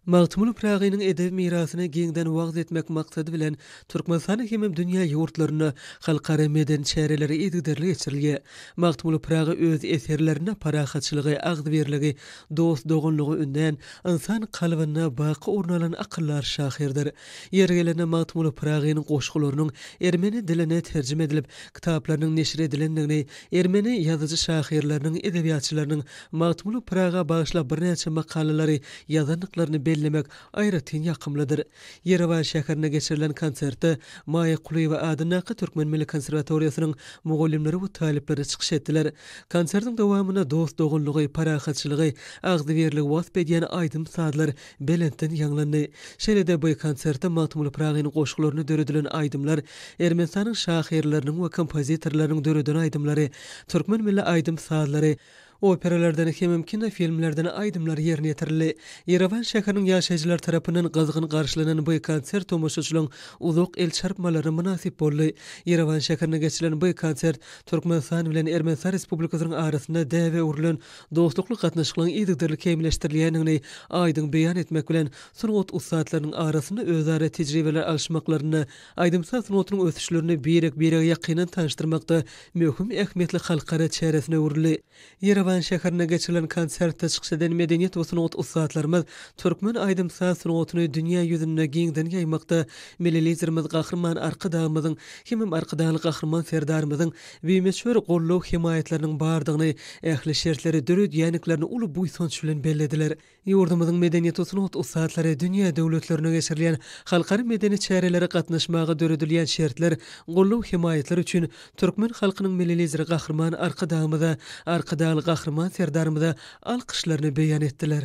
Magtymguly Pyragynyň edebi mirasyny giňden wagyz etmek maksady bilen, Türkmenistanda hemem dünýä ýurtlarynda halkara medeni çäreleri yzygiderli geçirilýär. Magtymguly Pyragy öz eserlerinde parahatçylygy, agzybirligi, dost-doganlygy ündän, ynsan kalbynda baky orun alan akyldar şahyrdyr. Ýeri gelende Magtymguly Pyragynyň goşgularynyň ermeni diline terjime edilip, kitaplarynyň neşir edilendigini, ermeni ýazyjy-şahyrlarynyň, edebiýatçylarynyň Magtymguly Pyraga bagyşlap birnäçe makalalary ýazandyklaryny bellemek aýratyn ýakymlydyr. Ýerewan şäherinde geçirilen konsertde Maýa Kulyýewa adyndaky Türkmen milli konserwatoriýasynyň mugallymlary we talyplary çykyş etdiler. Konsertiň dowamynda dost-doganlygy, parahatçylygy, agzybirligi wasp edýän aýdym-sazlar belentden ýaňlandy. Şeýle-de bu konsertde Magtymguly Pyragynyň goşgularyna döredilen aýdymlar, Ermenistanyň şahyrlarynyň we kompozitorlarynyň döreden aýdymlary, türkmen milli aýdym-sazlary, Operalardan hemem kinofilmlerden aýdymlar ýerine ýetirildi. Ýerewan şäheriniň ýaşaýjylary tarapyndan gyzgyn garşylanan bu konsert tomaşaçylaryň uzak el çarpmalaryna mynasyp boldy. Ýerewan şäherinde geçirilen bu konsert Türkmenistan bilen Ermenistan Respublikasynyň arasynda däbe öwrülen dostlukly gatnaşyklaryň yzygiderli kämilleşdirilýändigini aýdyň beýan etmek bilen, sungat ussatlarynyň arasynda özara tejribeler alyşmaklarynda Aýdym-saz sungatynyň ösüşlerini birek-birege ýakyndan tanyşdyrmakda möhüm ähmiýetli halkara çäresine öwrüldi. Ýerewan şäherinde geçirilen konsertde çykyş eden medeniýet we sungat ussatlarymyz türkmen aýdym-saz sungatyny dünýä ýüzünde giňden ýaýmakda Milli Liderimiz Gahryman Arkadagymyzyň hemem Arkadagly Gahryman Serdarymyzyň bimöçber goldaw-hemaýatlarynyň bardygyny, ähli şertleri döredýäniklerini uly buýsanç bilen bellediler. Ýurdumyzyň medeniýet-sungat ussatlary dünýä döwletlerinde geçirilýän halkara medeni çärelere gatnaşmaga döredilýän şertler, goldaw-hemaýatlar üçin türkmen halkynyň Milli Lideri Gahryman Arkadagymyza, Arkadagly Gahryman Serdarymyza alkyşlaryny beýan etdiler.